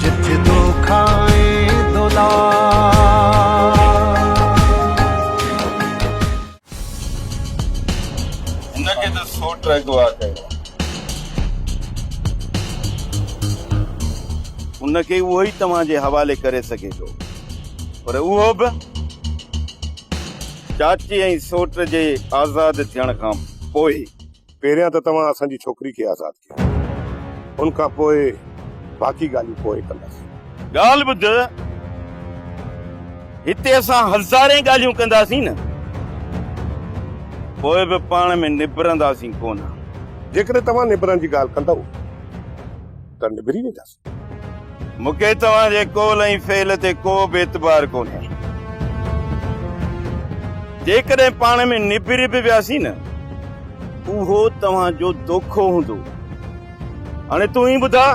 جت دو کائين ان کي اهو ئي توهان جي حوالي ڪري سگهي ٿو پر اهو به چاچي ۽ سوٽ جي آزاد ٿيڻ کان پوء پهريان ته توهان اسان جي ڇوڪري کي آزاد ڪيو، ان کان پوء باقي ڳالهيون پوء ڪنداسين. ڳالهه ٻڌ، هتي اسان هزارين ڳالهيون ڪنداسين نه، پوء به پاڻ ۾ نبرنداسين ڪونه. جيڪڏهن توهان نبرڻ جي ڳالهه ڪندؤ ته نبري وينداسين. مون کي توهان جي قول ۽ فعل تي ڪو به اعتبار ڪونهي. جيڪڏهن پاڻ ۾ نبري به وياسين نه، اهو توهان جو دوکو هوندو. هاڻي تون ئي ٻڌاء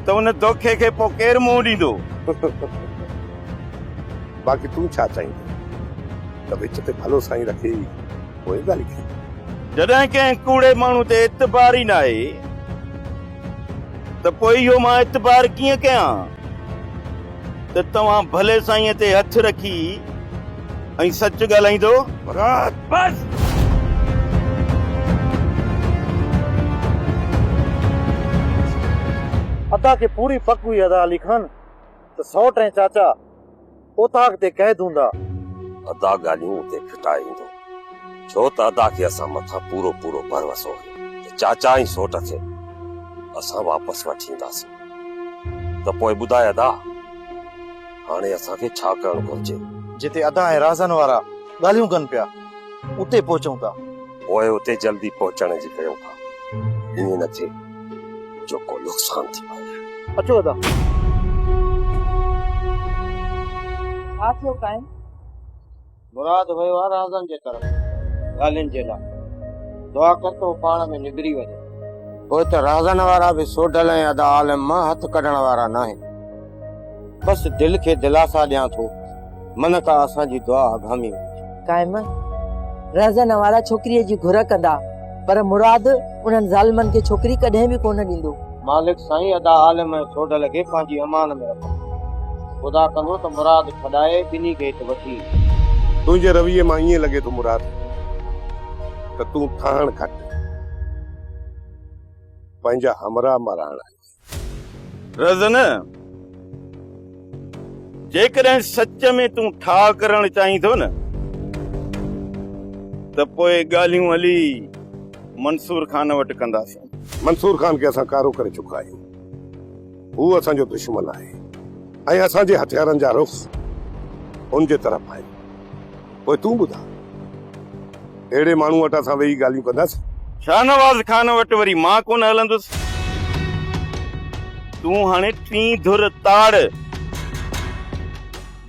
ته ان دوکي کي پوء ڪير منهن ڏيندو؟ باقي تون ڇا چاهيندين ته وچ تي ڀلو سائين رکي پوء ڳالهه ڪيون. جڏهن ڪنهن ڪوڙي ماڻهو تي اعتبار ئي ناهي ته پوء اهو مان اعتبار ڪيئن ڪيان ته توهان ڀلي سائينء تي هٿ رکي ۽ سچ ڳالهائيندو؟ مراد! بس! ادا کي پوري پڪ هئي ادا علي خان ته سئوٽ ۽ چاچا. اوطاق تي قيد هوندا. ادا ڳالهيون اتي ڦٽائي ايندو، ڇو ته ادا کي اسان مٿان پورو پورو ڀروسو هيو ته چاچا ۽ سوٽ کي اسان واپس وٺي اينداسين. ته پوء ٻڌاء ادا، هاڻي اسان کي ڇا ڪرڻ گهرجي؟ جتي ادا ۽ رازن وارا ڳالهيون ڪن پيا، اتي پهچون ٿا. پوء اتي جلدي پهچڻ جي ڪيون ٿا، ائين نه ٿئي. جو ڪو نقصان ٿي پوي. اچو ادا. ڇا ٿيو قائم؟ مراد ويو آهي رازن جي طرف ڳالهين جي لاء. دعا ڪر ته هو پاڻ ۾ نبري وڃي. پوء ته رازن وارا به سوڍل ۽ ادا عالم مان هٿ ڪڍڻ وارا ناهن. بس دل کي دلاسا ڏيان ٿو. من ڪا اسان جي دعا اگهامي هوندي. قائم رهزن وارا ڇوڪريء جي گهر ڪندا پر مراد انهن ظالمن کي ڇوڪري ڪڏهن به ڪونه ڏيندو. مالڪ سائين ادا عالم ۽ سوڍل کي پنهنجي امان ۾ رکو. خدا ڪندو ته مراد ڇڏائي ٻنهي کي هت وٺي ايندو. تنهنجي رويي مان ائين لڳي ٿو مراد ته تون ٺاهڻ گهٽ پنهنجا همراهه مراڻ آهين. رزن جيڪڏهن سچ ۾ تون ٺاء ڪرڻ چاهين ٿو نه ته پوء ڳالهيون هلي منصور خان وٽ ڪنداسين منصور خان کي اسان ڪارو ڪري چڪا آهيون هو اسان جو دشمن آهي ۽ اسان جي هٿيارن جا رخ ان جي طرف آهن پوء تون ٻڌاء. اهڙي ماڻهو وٽ اسان ويهي ڳالهيون ڪنداسين. شاهنواز خان وٽ وري مان ڪونه هلندس. تون هاڻي ٽين ڌر تاڙ.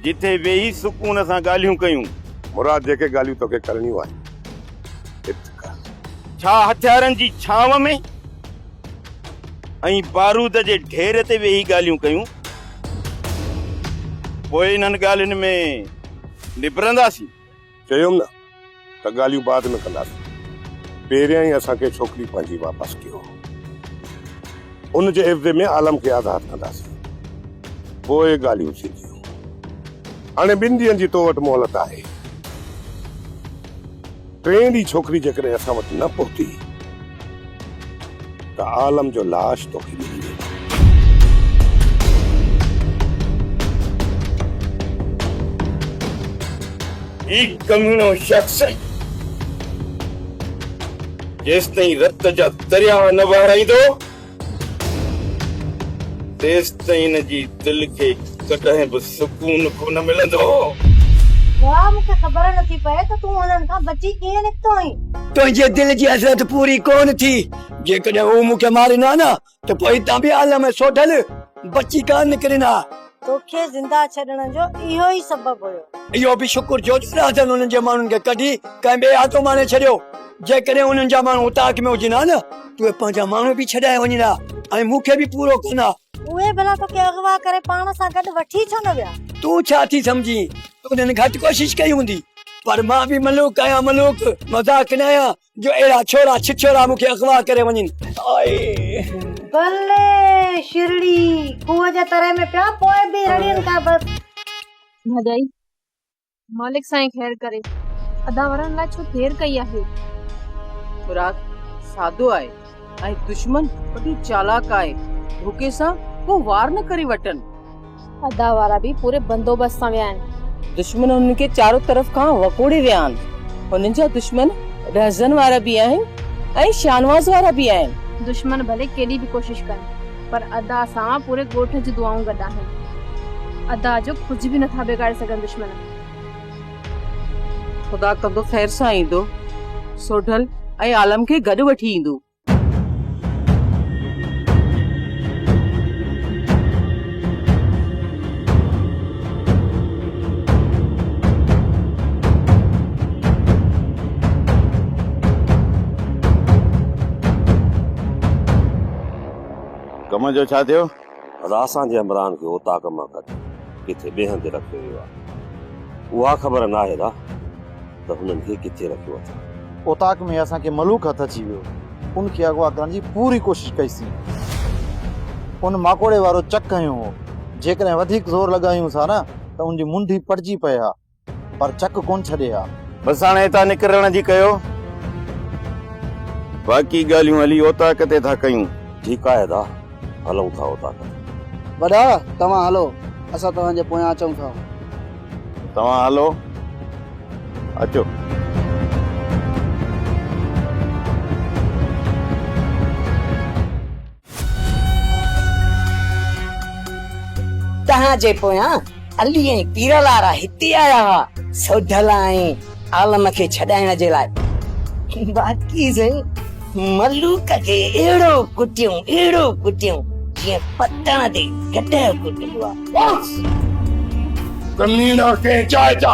جتي ويهي سڪون سان ڳالهيون ڪيون. مراد جيڪي ڳالهيون توکي ڪرڻيون آهن ات ڪر. ڇا هٿيارن جي ڇانو ۾ ۽ بارود جي ڍير تي ويهي ڳالهيون ڪيون. پوء انهن ڳالهين ۾ نبرنداسين. چيم نه ته ڳالهيون بعد ۾ ڪنداسين. پهريان ئي اسان کي ڇوڪري پنهنجي واپس ڪيو. ان جي عيوضي ۾ عالم کي آزاد ڪنداسين. پوء ڳالهيون ٿينديون. هاڻي ٻن ڏينهن جي تو وٽ مهلت آهي. ٽئين ڏينهن ڇوڪري جيڪڏهن اسان وٽ نه پهتي ته عالم جو لاش توکي ڏئي ڏيندو. هي ڪميڻو شخص جيستائين رت جا درياهه نه وهرائيندو تيستائين جي دل کي ڪڏهن به سڪون ڪونه ملندو. واء مون کي خبر نه ٿي پئي ته تون انهن کان بچي ڪيئن نڪتو آهين. تنهنجي دل جي حسرت پوري ڪونه ٿي. جيڪڏهن هو مون کي مارين ها نه ته پوء هتان به عالم ۽ سوڍل بچي ڪانه نڪرين ها. توکي زنده ڇڏڻ جو اهو ئي سبب هيو. اهو به شڪر جو ڏاڏاجن انهن جي ماڻهن کي ڪڍي ڪنهن ٻئي آتو ماڻي ڇڏيو. جيڪڏهن انهن جا ماڻهو اوطاق ۾ هجن ها نه ته اهي پنهنجا ماڻهو به ڇڏائي وڃن ها ۽ مون کي به پورو ڪن ها. اهي ڀلا توکي اغوا ڪري پاڻ سان گڏ وٺي ڇو نه ويا؟ تون ڇا ٿي سمجهين ته انهن گهٽ ڪوشش ڪئي هوندي. پر مان به ملوڪ آهيان ملوڪ، مذاق نه آهيان. جو اهڙا ڇوڙا ڇڇوڙا مون کي اغوا ڪري وڃن بلي شرڙي کوهه جي تري ۾ پيا پوء به رڙين ٿا بس ڀڄائي مالڪ سائين خير ڪري ادا ورن لاء ڇو دير ڪئي آهي مراد سادو آهي ۽ دشمن وڏو چالاڪ آهي، ڌوڪي سان ڪو وار نه ڪري وٽن. ادا وارا به پوري بندوبست سان ويا آهن. دشمن هنن کي چارو طرف کان وڪوڙي ويا آهن. هنن جا دشمن رهزن وارا به آهن ۽ شانواز وارا به آهن. دشمن ڀلي ڪيڏي به ڪوشش ڪن پر ادا سان پوري ڳوٺ جون دعائون گڏ آهن. ادا جو ڪجهه به نه ٿا بگاڙي سگهن دشمن. خدا ڪندو خير سان ايندو، سوڍل ۽ عالم کي گڏ وٺي ايندو. ڪم جو ڇا ٿيو؟ راسان جي همراهن کي اوطاق مان ڪڍي ڪٿي ٻئي هنڌ رکيو ويو آهي. اها خبر ناهي را ته هنن کي ڪٿي رکيو اٿن. اوطاق ۾ اسان کي ملوڪ هٿ اچي ويو. ان کي اغوا ڪرڻ جي پوري ڪوشش ڪئي سين. ان ماڪوڙي وارو چڪ هنيو هو. جيڪڏهن وڌيڪ زور لڳايون ٿا نه ته ان جي منڍي پٽجي پئي ها. پر چڪ ڪونه ڇڏي ها. بس هاڻي هتان نڪرڻ جي ڪيو. باقي ڳالهيون هلي اوطاق تي ٿا ڪيون. ٺيڪ آهي ادا هلون ٿا اوطاق تي. وڏا توهان هلو اسان توهان جي پويان اچون ٿا. توهان هلو اچو. تنهن جي پويان علي ۽ پيرلارا هتي آيا هئا سوڍل ۽ عالم کي ڇڏائڻ جي لاء. باقي سائين ملوڪ کي اهڙو ڪٽيون اهڙو ڪٽيون جيئن پتڻ تي گڏهه ڪٽبو آهي. بس! ڪميڻا ڪنهن چائتا.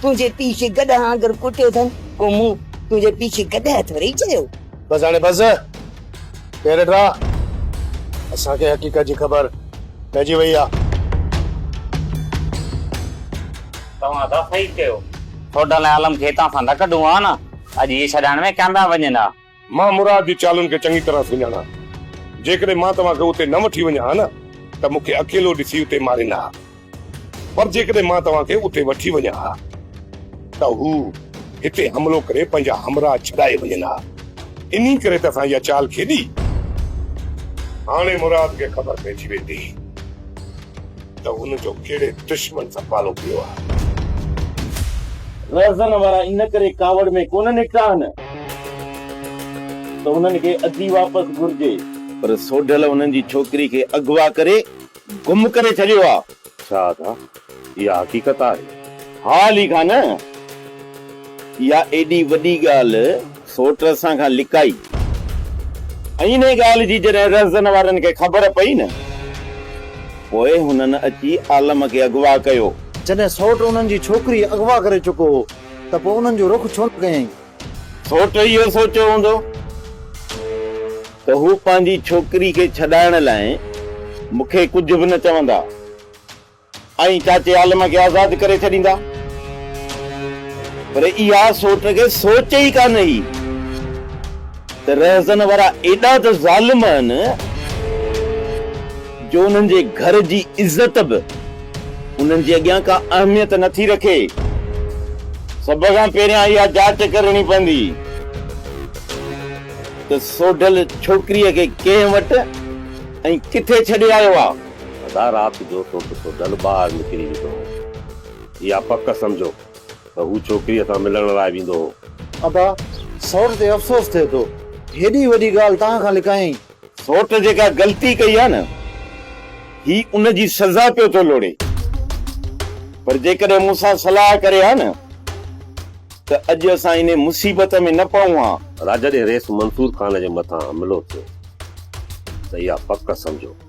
تنهنجي پيء کي گڏهه آنگر ڪوٽيو اٿن، پوء مون تنهنجي پيء کي گڏهه اٿ وري چيو. بس هاڻي بس! ڪير ڊرا؟ اسان کي حقيقت جي خبر پئجي وئي آ. توهان ته صحيح چيو. ٺوڊل ۽ عالم کي هتان سان نه ڪڍون ها نه اڄ اهي ڇڏائڻ ۾ ڪيا پيا وڃن ها. مان مراد جي چالن کي چڱي طرح سڃاڻان. جيڪڏهن مان توهان کي اتي نه وٺي وڃان ها نه ته مون کي اڪيلو ڏسي اتي ماريندا ها. پر جيڪڏهن مان توهان کي اتي وٺي وڃان ها ته هو هتي حملو ڪري پنهنجا همراهه ڇڏائي وڃن ها. انهي ڪري ته اسان اها چال کيڏي. هاڻي مراد کي خبر پئجي ويندي ته هن جو ڪهڙي دشمن سان پالو پيو آهي. رهزن وارا ان ڪري ڪاوڙ ۾ ڪونه نڪتا آهن. ته انهن کي اڌي واپس گهرجي. پر سوڍل انهن جي ڇوڪري کي اغوا ڪري گم ڪري ڇڏيو آ. ڇا ادا اها حقيقت آهي؟ ها علي خان! اها ايڏي وڏي ڳالهه سوٽ اسان کان لڪائي ۽ انهي ڳالهه جي جڏهن رهزن وارن کي خبر پئي نه پوء هنن اچي عالم کي اغوا ڪيو. جڏهن سوٽ انهن جي ڇوڪري اغوا ڪري چڪو هو ته پوء انهن جو رخ ڇو نه ڪيائين؟ سوٽ اهو سوچيو هوندو ته هو پنهنجي ڇوڪري کي ڇڏائڻ لاء مون کي ڪجهه به نه چوندا ۽ چاچي عالم کي آزاد ڪري ڇڏيندا. پر اها سوٽ کي سوچ ئي ڪانه هئي. ته رهزن وارا ايڏا ته ظالم آهن جو انهن جي گهر جي عزت به انهن جي اڳيان ڪا اهميت نه ٿي رکي. سڀ کان پهريان اها جاچ ڪرڻي پوندي ته سوڍل ڇوڪريء کي ڪنهن وٽ ۽ ڪٿي ڇڏي آيو آ؟ ادا رات جو توکي سوڍل ٻاهر نڪري وڌو هو اها پڪ سمجهو ته هو ڇوڪريء سان ملڻ لاء ويندو هو. ادا، سئوٽ تي افسوس ٿئي ٿو. هيڏي وڏي ڳالهه توهان کان لڪايائين. سئوٽ جيڪا غلطي ڪئي آهي نه، هي ان جي سزا پيو ٿو لوڙي. پر جيڪڏهن مون سان صلاح ڪري ها نه، ته اڄ اسان انهيء مصيبت ۾ نه پئون ها. راجا، جڏهن ريس منصور خان جي مٿان حملو ٿيو، ته اها پڪ سمجهو.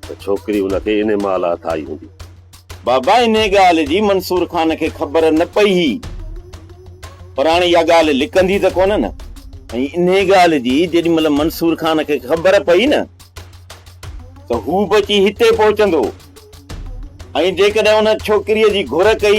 ته ڇوڪري هن کي انهي مهل هٿ آئي هوندي. بابا انهي ڳالهه جي منصور خان کي خبر نه پئي هئي، پر هاڻي اها ڳالهه لڪندي ته ڪونه نه؟ ۽ انهي ڳالهه جي جيڏي مهل منصور خان کي خبر پئي نه ته هو به اچي هتي پهچندو ۽ جيڪڏهن ان ڇوڪريء جي گهر ڪئي،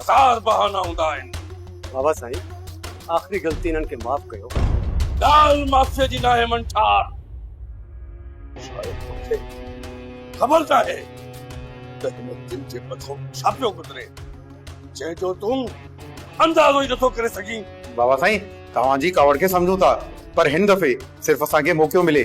هزار بهانا هوندا آهن. بابا سائين آخري غلطي انهن کي معاف ڪيو. ڳالهه معافيء جي ناهي منٺار. شايد توکي خبر ناهي ته هن دل جي مٿو ڇا پيو گذري جنهن جو تون اندازو ئي نٿو ڪري سگهين. بابا سائين توهان جي ڪاوڙ کي سمجهون ٿا پر هن دفعي صرف اسان کي موقعو ملي.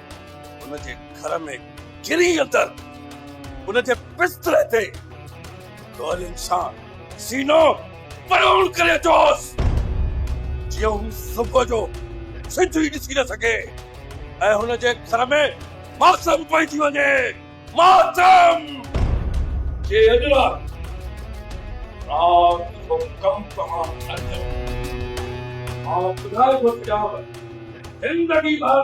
ان جي گهر ۾ گري اندر ان جي بستري تي گولين سان سينو پرون ڪري اچوس جيئن هو صبح جو سج ئي ڏسي نه سگهي ۽ هن جي گهر ۾ ماتم پئجي وڃي ماتم جي اڄ رات رات جو ڪم تمام ٿي مان ٻڌائي ٿو ڇڏيان زندگي ڀر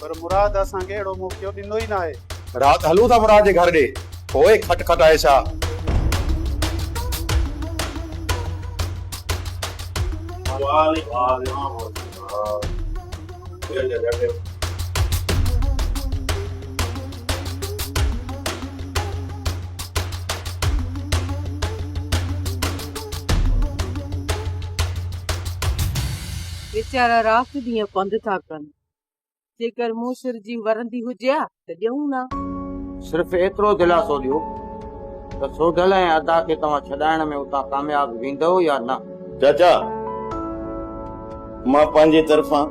پر مراد اسان کي اهڙو موقعو ڏيندو ئي ناهي. رات هلون ٿا مراد جي گهر ڏي. پوء کٽ کٽائي ڇا؟ ويچارا رات ڏينهن پنڌ ٿا ڪن. جيڪر مون سر جي ورندي هجي ها ته ڏيون ها. صرف ايترو دلاسو ڏيو ته سوڍل ۽ ادا کي توهان ڇڏائڻ ۾ اتان ڪامياب ويندؤ يا نه؟ چاچا، مان پنهنجي طرفان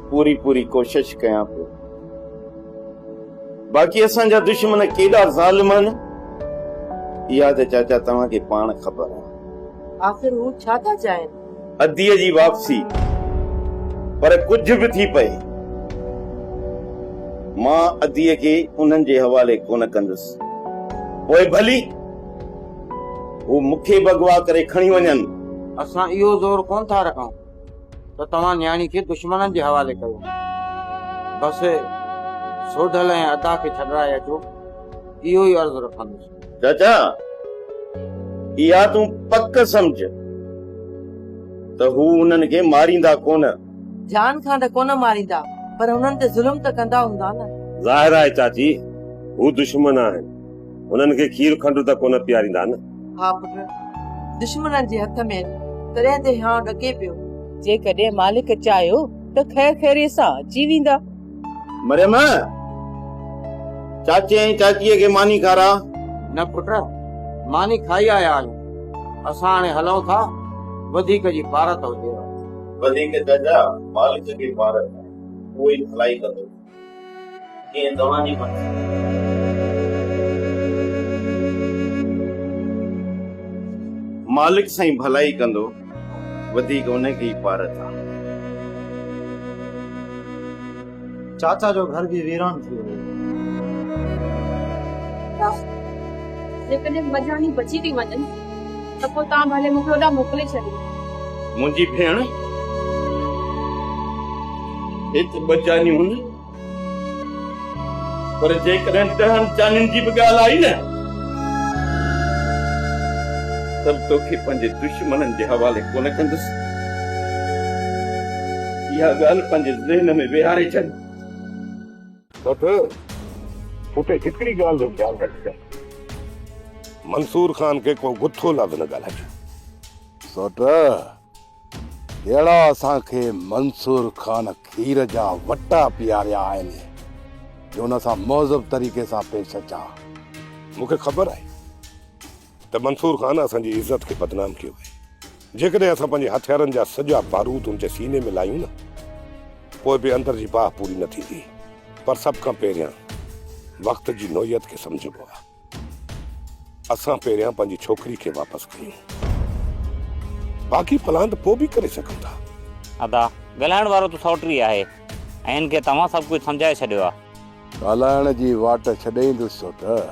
پوري پوري ڪوشش ڪيان پيو. باقي اسان جا دشمن ڪيڏا ظالم آهن، اها ته چاچا توهان کي پاڻ خبر آهي. آخر هو ڇا ٿا چاهين؟ اديء جي واپسي پر ڪجهه به ٿي پئي مان اديء کي انهن جي حوالي ڪونه ڪندس پوء ڀلي هو مون کي به اغوا ڪري کڻي وڃن. اسان اهو زور ڪونه ٿا رکون ته توهان نياڻي کي دشمنن جي حوالي ڪيو بس سوڍل ۽ ادا کي ڇڏرائي اچو اهو ئي عرض رکندس. چاچا اها تون پڪ سمجهه ته هو انهن کي ماريندا ڪونه. جان کان ته ڪونه ماريندا پر انهن تي ظلم ته ڪندا هوندا نه. ظاهر آهي چاچي هو دشمن آهن انهن کي کير کنڊ ته ڪونه پياريندا نه. ها پٽ دشمنن جي هٿ ۾ آهن تڏهن ته هيانء ڏڪي پيو. جيڪڏهن مالڪ چاهيو ته خير خيريء سان اچي ويندا. مريم! چاچي ۽ چاچيء کي ماني کاراء. نه پٽ، ماني کائي آيا آهيون. اسان هاڻي هلون ٿا، وڌيڪ جي پارت هجيو. وڌيڪ چاچا، مالڪ جي پارت آهي، اهو ئي ڀلائي ڪندو، جيئن توهان جي مرضي. مالڪ سائين ڀلائي ڪندو. وڌيڪ انهي کي ئي پار ٿا. چاچا جو گهر به ويران ٿي ويو. جيڪڏهن ٻه ڄاڻي بچي ٿي وڃن ته پوء توهان ڀلي مون کي هوڏانهن موڪلي ڇڏيو. منهنجي ڀيڻ! هت ٻه ڄاڃيون هن. پر جيڪڏهن ڏهن چانين جي به ڳالهه آئي نه ته به توکي پنهنجي دشمنن جي حوالي ڪونه ڪندس. اها ڳالهه پنهنجي ذهن ۾ ويهاري ڇڏ. بس اتي هڪڙي ڳالهه جو خيال رکجان. منصور خان کي ڪو گٿو لفظ نه ڳالهائجي. سوٽ! جهڙا اسان کي منصور خان کير جا وٽا پياريا آهن جو ان سان مهذب طريقي سان پيش اچان مون کي خبر آهي ته منصور خان اسان جي عزت کي بدنام ڪيو آهي جيڪڏهن اسان پنهنجي هٿيارن جا سڄا بارود ان جي سيني ۾ لايون نه پوء به اندر جي باهه پوري نه ٿيندي پر سڀ کان پهريان وقت جي نوعيت کي سمجهبو آهي اسان پهريان پنهنجي ڇوڪري کي واپس ڪيون. باقي پلان ته پوء به ڪري سگهون ٿا. ادا، ڳالهائڻ وارو ته سئوٽري آهي ۽ هن کي ته اوهان سڀ ڪجهه سمجهائي ڇڏيو آهي. ڳالهائڻ جي واٽ ڇڏي ايندس سئوٽر.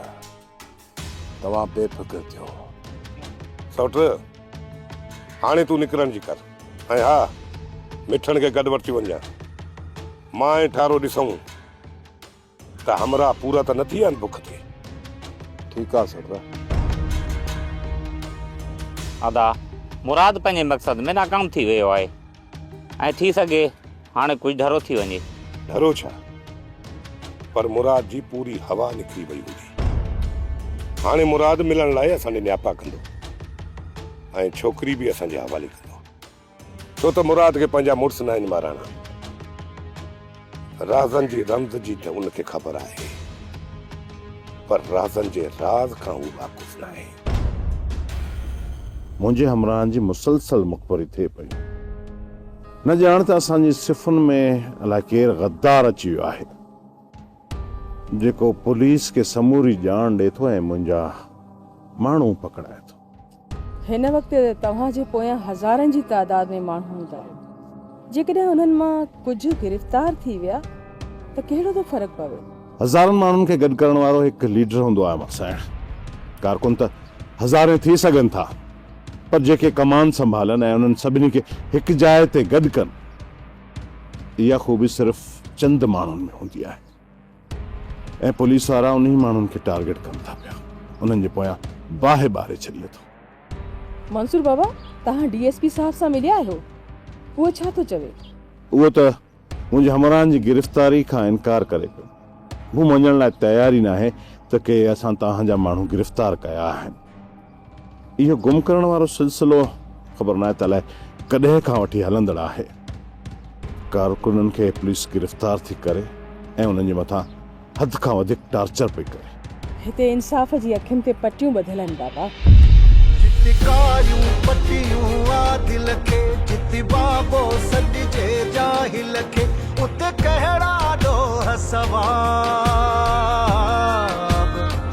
توهان بي فڪر ٿيو. سئوٽر، هاڻي تون نڪرڻ جي ڪر ۽ ها، مٺڻ کي گڏ وٺي وڃجان. مان ۽ ٺارو ڏسون. ته همراهه پورا ته نه ٿي ويا آهن بک تي. ٺيڪ آ سردار. ادا مراد پنهنجي مقصد ۾ ناڪام ٿي ويو آهي ۽ ٿي سگهي هاڻي ڪجهه ڍرو ٿي وڃي. ڍرو ڇا پر مراد جي پوري هوا نڪري وئي هوندي. هاڻي مراد ملڻ لاء اسان ڏي نياپا ڪندو ۽ ڇوڪري به اسان جي حوالي ڪندو. ڇو ته مراد کي پنهنجا مڙس ناهن مارائڻا. رازن جي رمز جي ته ان کي خبر آهي، پر رازن جي راز کان هو واقف ناهي. منهنجي همراهن جي مسلسل مخبري ٿئي پئي. نه ڄاڻ ته اسان جي صفن ۾ الائي ڪير غدار اچي ويو آهي، جيڪو پوليس کي سموري ڄاڻ ڏئي ٿو ۽ منهنجا ماڻهو پڪڙائي ٿو. هن وقت توهان جي پويان هزارن جي تعداد ۾ ماڻهو هوندا آهن. جيڪڏهن انهن مان ڪجهه گرفتار ٿي ويا ته ڪهڙو ٿو فرق پوي؟ هزارن ماڻهن کي گڏ ڪرڻ وارو هڪ ليڊر هوندو آهي مخصائڻ. ڪارڪن ته هزارين ٿي سگهن ٿا پر جيڪي ڪمان سنڀالن ۽ انهن سڀني کي هڪ جاء تي گڏ ڪن اها خوبي صرف چند ماڻهن ۾ هوندي آهي. ۽ پوليس وارا انهي ماڻهن کي ٽارگيٽ ڪن ٿا پيا انهن جي پويان باهه ٻاري ڇڏي ٿو. منصور بابا توهان ڊي ايس پي صاحب سان مليا آهيو هو ڇا ٿو چوي؟ اهو ته منهنجي همراهن جي گرفتاري کان انڪار ڪري پيو مون مڃڻ لاء تيار ئي ناهي ته ڪي اسان توهان جا ماڻهو گرفتار ڪيا آهن. اهو گم ڪرڻ وارو سلسلو خبر ناهي ته الائي ڪڏهن کان وٺي هلندڙ آهي. ڪارڪنن کي پوليس گرفتار ٿي ڪري ۽ انهن جي مٿان حد کان وڌيڪ ٽارچر پئي ڪري. هتي انصاف جي اکين تي پٽيون ٻڌل آهن بابا. جت ڪاريون پٽيون عادل کي جت بابو سڏجي جاهل کي ات ڪهڙا ڏوهه ثواب.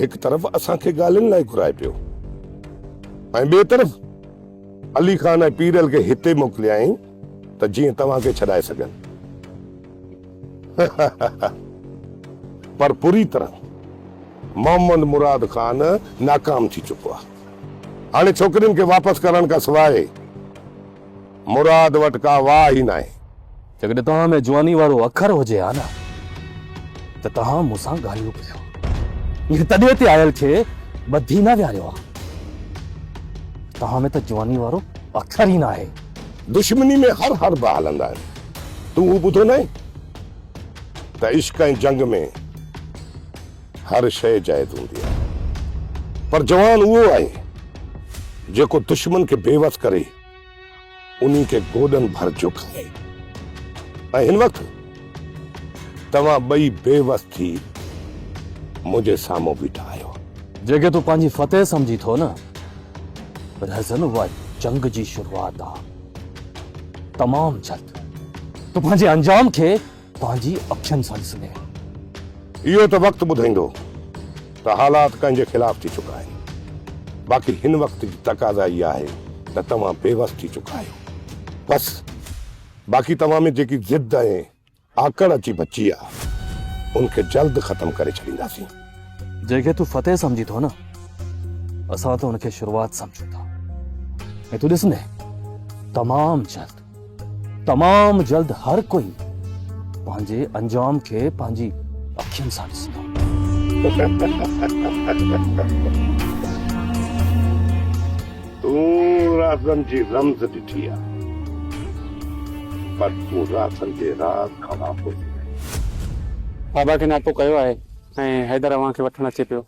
هڪ طرف اسان کي ڳالهين لاء گهرائي پيو ۽ ٻئي طرف علي خان ۽ پيرل کي هتي موڪليائين ته جيئن توهان کي ڇڏائي سگهن. پر پوري طرح محمد مراد خان ناڪام ٿي چڪو آهي. هاڻي ڇوڪرين کي واپس ڪرڻ کان سواء مراد وٽ ڪا واهه ئي ناهي. جيڪڏهن توهان ۾ جواني وارو اکر هجي ها نه ته توهان مون سان ڳالهيون ڪريو ها. مون تڏي تي آيل کي ٻڌي نه ويهاريو ها. توهان ۾ ته جواني وارو اکر ئي ناهي. دشمني ۾ هر حربا هلندا آهن. تون هو ٻڌو ناهي ته عشق ۽ جنگ ۾ هر شيء جائز هوندي آهي. پر جوان اهو آهي جيڪو دشمن کي بيوس ڪري. انهي کي گوڏن ڀر جهڪائي ۽ هن وقت توهان ٻئي بي وس ٿي منهنجي سامهون بيٺا آهيو. جيڪي تون پنهنجي فتح سمجهين ٿو نه، رهزن اها جنگ جي شروعات آهي. تمام جلد تون پنهنجي انجام کي پنهنجي اکين سان ڏسندي آهيان. اهو ته وقت ٻڌائيندو ته حالات ڪنهن جي خلاف ٿي چڪا آهن باقي هن وقت جي تقاضا اها آهي ته توهان بي وس ٿي چڪا آهيو بس باقي توهان ۾ جيڪي ضد ۽ آڪڙ اچي بچي آ ان کي جلد ختم ڪري ڇڏينداسين. جنهن کي تون فتح سمجهين ٿو نه اسان ته ان کي شروعات سمجهون ٿا ۽ تون ڏسندين تمام جلد. تمام جلد هر ڪوئي پنهنجي انجام کي پنهنجي اکين سان ڏسندو. تون رازن جي رمز ڏٺي آ پر تون رازن جي راز کان واقف ئي ناهين. بابا کي ناپو ڪيو آهي ۽ حيدر اوهان کي وٺڻ اچي پيو.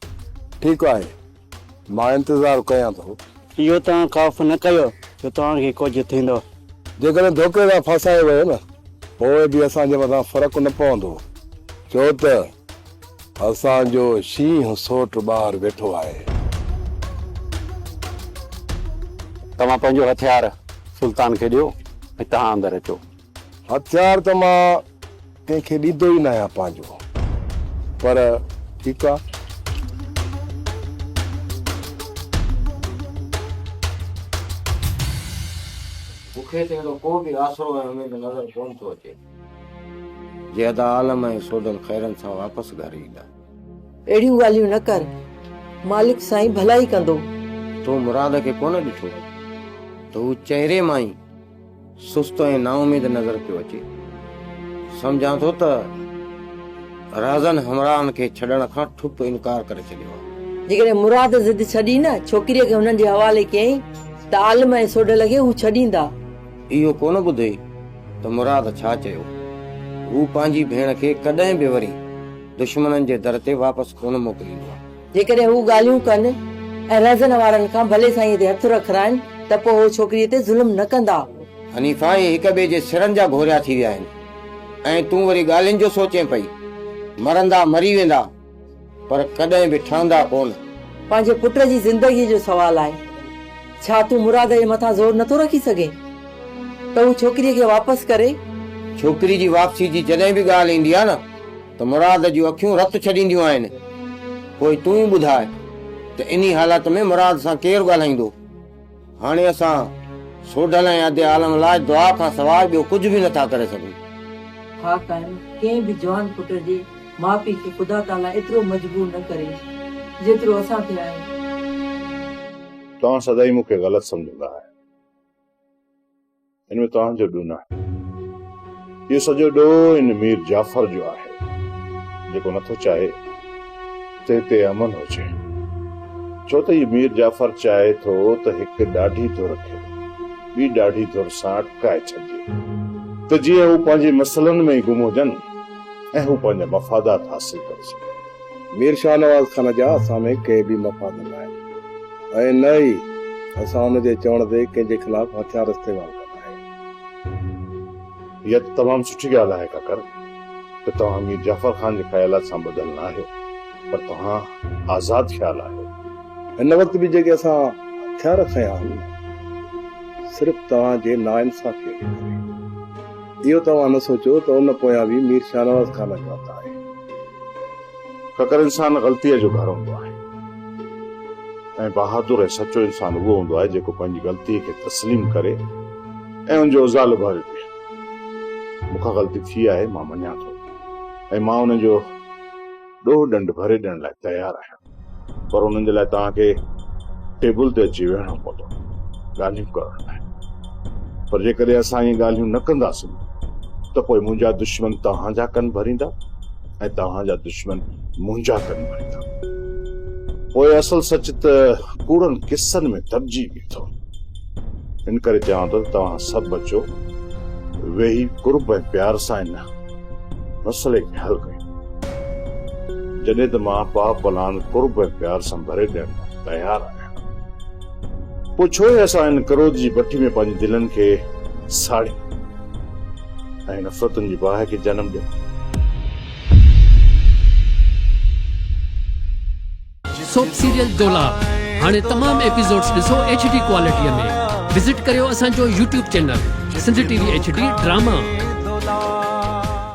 ٺيڪ آهي. مان انتظار ڪيان ٿو. اهو توهان خوف نه ڪيو جو توهان کي ڪجهه ٿيندو. جيڪڏهن ڌوڪي سان ڦاسايو ويو نه پوء به اسان جي مٿان فرق نه پوندو ڇو ته اسان جو شينهن سوٽ ٻاهر ويٺو آهي. توهان پنهنجو هٿيار سلطان کي ڏيو ۽ توهان اندر اچو. هٿيار ته مان ڪنهن کي ڏيندو ئي ناهيان پنهنجو، پر ٺيڪ آ. مون کي ته اهڙو ڪو به آسرو ۽ اميد نظر ڪونه ٿو اچي. جي ادا عالم ۽ سوڍل خيرن سان واپس گهر ايندا. اهڙيون ڳالهيون نه ڪر. مالڪ سائين ڀلائي ڪندو. تو مراد کي ڪونه ڏٺو ته هو چهري مان ئي. سست ۽ نااميد نظر پيو اچي. سمجهان ٿو ته رهزن همراهن کي ڇڏڻ کان ٺپ انڪار ڪري ڇڏيو آهي. جيڪڏهن مراد ضد ڇڏي نه ڇوڪريء کي هنن جي حوالي ڪيائين ته عالم ۽ سوڍل کي هو ڇڏيندا. اهو ڪونه ٻڌئي ته مراد ڇا چيو. هو پنهنجي ڀيڻ کي ڪڏهن به وري دشمنن جي در تي واپس ڪونه موڪليندو آهي. جيڪڏهن هو ڳالهيون ڪن ۽ رهزن وارن کان ڀلي سائينء تي هٿ رکرائن ته پوء هو ڇوڪريء تي ظلم نه ڪندا. حنيفه اهي هڪ ٻئي جي سرن جا گهوريا ٿي ويا آهن ۽ تون وري ڳالهين جو سوچين پئي. مرندا مري ويندا پر ڪڏهن به ٺهندا ڪونه. پنهنجي پٽ جي زندگيء جو سوال آهي. ڇا تون مراد جي مٿان زور نٿو رکي سگهين ته هو ڇوڪريء کي واپس ڪري؟ ڇوڪري جي واپسيء جي جڏهن به ڳالهه ايندي آهي نه ته مراد جون اکيون رت ڇڏينديون آهن. پوء تون ئي ٻڌاء ته انهي حالت ۾ مراد سان ڪير ڳالهائيندو؟ هاڻي اسان سوڍل ۽ ادي عالم لاء دعا کان سواء ٻيو ڪجهه به نٿا ڪري سگهون. ها قائم، ڪنهن به جوان پٽ جي ماء پيء کي خدا تعاليٰ ايترو مجبور نه ڪري، جيترو اسان تي آهي. توهان سدائين مون کي غلط سمجهندا آهيو. ان ۾ توهان جو ڏوهه ناهي. اهو سڄو ڏوهه ان مير جعفر جو آهي، جيڪو نٿو چاهي ته هتي امن هجي. ڇو ته هي مير جعفر چاهي ٿو ته هڪ ڏاڍي ڌر کي ٻي ڏاڍي ڌر سان اٽڪائي ڇڏجي ته جيئن هو پنهنجي مسئلن ۾ ئي گم هجن ۽ هو پنهنجا مفادات حاصل ڪري سگهن. مير شاهنواز خان جا اسان ۾ ڪي به مفاد نه آهن ۽ نه ئي اسان ان جي چوڻ تي ڪنهن جي خلاف هٿيار استعمال ڪندا آهيون. اها ته تمام سٺي ڳالهه آهي ڪاڪر ته توهان مير جعفر خان جي خيالات سان ٻڌل نه آهيو پر توهان آزاد خيال آهيو. هن وقت به جيڪي اسان هٿيار کنيا آهن صرف توهان جي ناانصافيء جي ڪري. اهو توهان نه سوچيو ته ان پويان به مير شاهنواز خان جو هٿ آهي. ڪڪر انسان غلطيء جو گهر هوندو آهي ۽ بهادر ۽ سچو انسان اهو هوندو آهي جيڪو پنهنجي غلطيء کي تسليم ڪري ۽ ان جو ازالو ڀري ڏئي مون کان غلطي ٿي آهي مان مڃان ٿو ۽ مان ان جو ڏوهه ڏنڊ ڀري ڏيڻ لاء تيار آهيان پر انهن جي لاء توهان کي ٽيبل تي اچي ويهڻو پوندو ڳالهيون ڪرڻ لاء پر جيڪڏهن اسان اهي ڳالهيون نه ڪنداسين ته پوء منهنجا دشمن توهان جا ڪن ڀريندا ۽ توهان جا دشمن منهنجا ڪن ڀريندا پوء اصل سچ ته ڪوڙن قصن ۾ دٻجي بيٺو ان ڪري چوان ٿو ته توهان سڀ اچو ويهي قرب ۽ پيار سان هن مسئلي کي حل ڪيون جڏهن ته مان پاء پلان قرب ۽ پيار سان ڀري ڏيڻ لاء تيار آهيان پوء ڇو هي اسان هن ڪروڌ جي بٺي ۾ پنهنجي دلن کي ساڙيون ۽ نفرتن جي باهه کي جنم ڏيون سوپ سيريل دولاب هاڻي تمام ايپيسوڊز ڏسو ايڇ ڊي ڪوالٽي ۾ وزٽ ڪريو اسان جو YouTube channel Sindh T V H D drama.